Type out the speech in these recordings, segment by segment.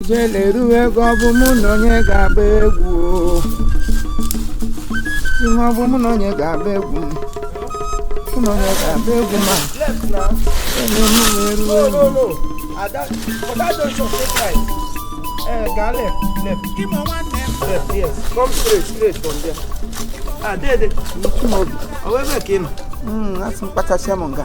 ijele eruwe egwu ọ bụ mụ na onye ga-agba egwu o. Ihe ọ bụ mụ na onye ga-agba egwu m. Mụ na onye ga-agba egwu ma onye mụ na-eruo egwu. Chimaobi, mm, asị m kpachasịa m nga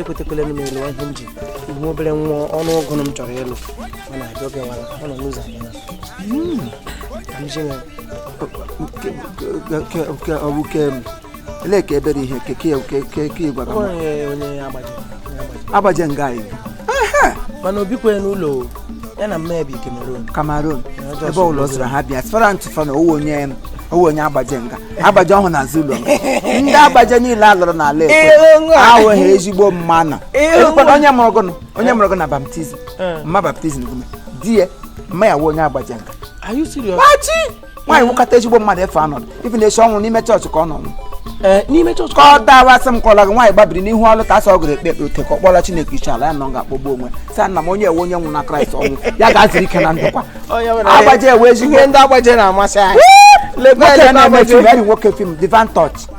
ekwetekwele m elu ihe m ji ihu obere nwa ọnụ ụgụ m chọrọ ịlụ ọ na-ajọ gị wara ọ nọ n'ụzọ abịa nke ọ bụ ke ele ka ebere ihe ke ke ke ke ke gwara m onye agbaje agbaje nga anyị mana o bikwe n'ụlọ ya na mma ya bi Cameroon Cameroon ebe ụlọ zụrụ ha bịa sfera ntụfa na ọ wụ onye ọ wụ onye agbaje nga agbaje ọhụ na zulu ndị agbaje niile a lụrụ n'ala ekwe awụ ha ezigbo mmanụ ekwekwana onye mụrụ gụnụ onye mụrụ gụ na baptizim mma baptizim gụme di ya mma ya wụ onye agbaje nga Are you serious? Pachi! nwaanyị wụkata ezigbo mmadụ efe anọdụ even esi ọ nwụrụ n'ime chọọchị ka ọ nọ eh, n'ime chọọchị ka ọ dawa asị m kọla gị nwaanyị gbabiri n'ihu altar asọ gụrụ ekpe ote ka ọ kpọla Chineke ishi ala ya nọ nga akpọgbu onwe sa nna m onye ewe onye nwụ na Kraịst ọ wụ ya ga-ezuru ike na ndokwa agbaje ewe ezigbo ndị agbaje na-amasị anyị nwoke film Divine Touch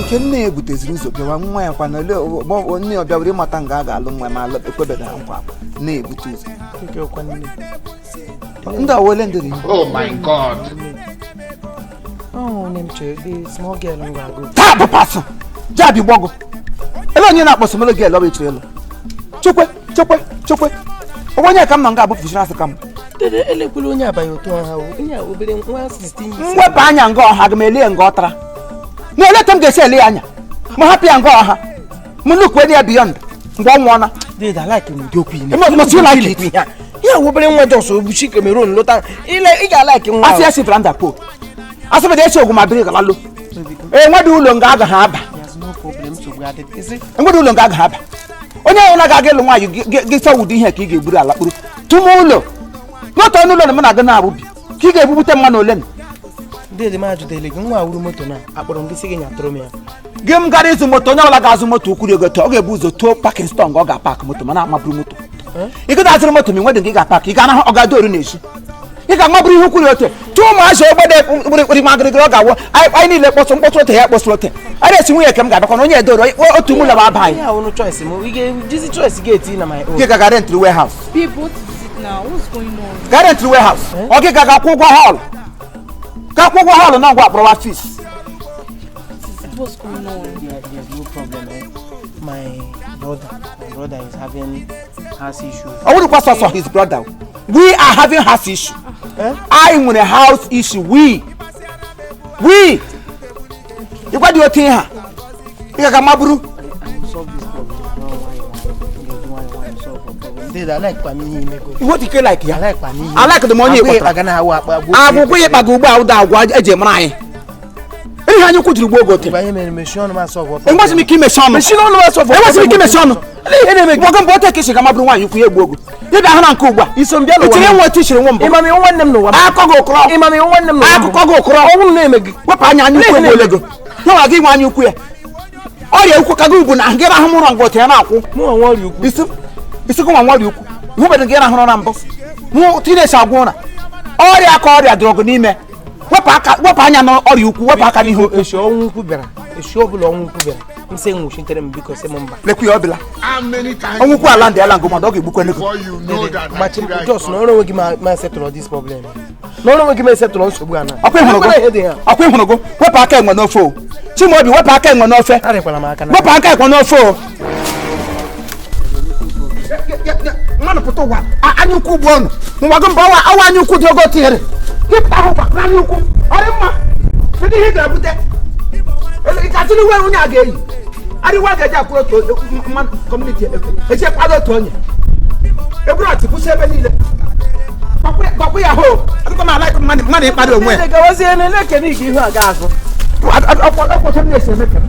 nke nne ya ebuteziri ụzọ bịawa nwa ya kwana ole ọ- nne ya ọ bịawere ịmata nga a ga-alụ nwa ya ma alụ- ekwebeghị ha nkwa nne ya ebute ụzọ ndị awole ndị ri Oh my God. Oh, name Joe, the small girl who I go. taa bụ pasụ jabi gbọgụ ele onye na-akpọ small girl ọ bụ ị chọrọ ịlụ chekwe chekwe chekwe onwe onye ka m nọ nga abụ fishiri asị ka m dede elekwula onye abaghị otu ọha o onye a obere nwa 16 years mwepụ anya nga ọha aga m elie nga ọtara na eleta m ga-esi ele ya anya ma hapụ ya nga ọha m nnukwu enyi ya beyond mgbe ọ nwụọna dede alaiki m ụdị okwu ime Eme ọtụtụ ụlọ aka eti. ya ya a obere nwa just obuchi Cameroon lọta ile ị ga-alaiki nwa asị ya si Fernando Po asịbịda esi Ọgwụmabiri ga-alọ enwedị ụlọ nga agaghị aba enwedị ụlọ nga agaghị aba onye ọbụla ga-aga ịlụ nwaanyị gị- gị- gị sawa ụdị ihe ka ị ga-egburu ala kpụrụ tụma ụlọ n'otu ọnụ ụlọ na mụ na-aga na-abụ bi ka ị ga-ebubute mmanụ ole na dede m ajụdele gị nwa wuru moto na akpọrọ m gị sị gị nyatụrụ m ya gị m gara ịzụ moto onye ọbụla ga-azụ moto ukwuru ego tọ ọ ga-ebu ụzọ tụọ parking store ọ ga-apak moto mana amaburu moto ị gị azụrụ moto ma ị nwedị nga ị ga-apak ị ga-anahụ ọ ga-adọrọ n'ezi ị ga-amaburu ihe kwuru ote tụọ ụmụazị ogbede kpụrịkpụrị ma gịrịgịrị ọ ga-awụ anyị niile kpọsụ mkpọtụ ote ya kpọsụ ote a na-esi nwunye ka m ga-abịakwa na onye edoro otu mụ laba aba anyị gị gaga rentri warehouse ga rentri warehouse ọ gị gaga kwụ ụgwọ hall ga kwụ ụgwọ hall na ngwa akpọrọwa fees My brother, my brother is having house issues. I wouldn't pass us on his brother. we are having house issue eh? I want a house issue we we You got your thing, ha ị ga-aga maburu iwe dike like ya I like the money akwụkwọ ya ịkpaga ugbo a ụda agwa eji mara anyị ihe anyị kwujiri gbuo ogote enwezi m ike imechi ọnụ enwezi m ike imechi ọnụ ihe na-eme gị nwoke mgbe otu ekesi ka mabụrụ nwaanyị ukwu ya egbu ogu ịbịa hụ na nke ugbu a iso m bịa n'ụwa itinye nwa otu isiri nwa mbụ ị ma m ị wụ nwanne m n'ụwa akụkọ gị ụkọrọ ị ma m ị wụ nwanne m n'ụwa akụkọ gị ụkọrọ ọnwụ m na-eme gị wepụ anya anya ukwu egbuole gị nwa gị nwe anya ukwu ya ọrịa ukwu ka gị ugbu na gị rahụ mụrọ ngwa otu ya na-akwụ isikụ nwa ọrịa ukwu hụbedo gị rahụrụ na mbụ mụ tinesi agwa ụra ọrịa ka ọrịa dụrụ ọgụ n'ime wepụ anya n'ọrịa ukwu wepụ aka n'ihu echi ọnwụ ukwu bịara echi ọbụla ọnwụ ukwu bịara m sị nwụchitere m biko sị m mba lekwa ya ọbụla ọnwụ ukwu ala ndị ala ngụmadụ ọ ga-egbukwa ego gbachi m just nọrọ onwe gị ma settle this problem nọrọ onwe gị ma settle nsogbu a na ọkwa ị hụrụgo wepụ aka enwe n'ofe o chimaobi wepụ aka enwe n'ofe wepụ aka enwe n'ofe o mmadụ pụta ụwa anya ukwu bụ ọnwụ mgbago mba ọwa awa anya ukwu dị ogo tinyere ịpụta ahụ gwa n'anya ukwu ọrị mma kedu ihe ị ga-ebute katịrị uwe onye a ga-eyi arịwa ga-eji akwụrụ otu mmadụ community eji kwado otu onye eburu ọchị kwụsị ebe niile gbakwụ ya hoo akụkọ m alaịkụ mmadụ mmadụ ịkpado onwe ya gawazie na-ekene ike ihu a ga-azụ ọkwọtọ na-esi eme kere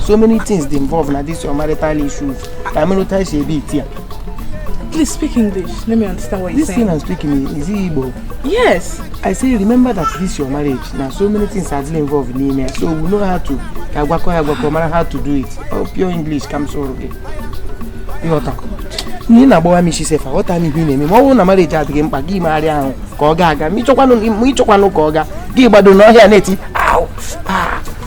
so many things dey involve na this your marital issues na marital issue e be it here. Please speak English. Let me understand what you're saying. This thing I'm speaking is it Igbo? Yes. I say remember that this your marriage. Now so many things are still involved n'ime ya. So we know how to agwakọ agwakọ mara how to do it. Oh, pure English comes so okay. You got talk. Nne na-agbawa m isi sef aghọta m ihe ị na-eme ma ọ bụrụ na marriage adịghị mkpa gị megharịa ahụ ka ọ ga-aga ma ị chọkwanụ ka ọ ga gị gbado n'ọhịa na-eti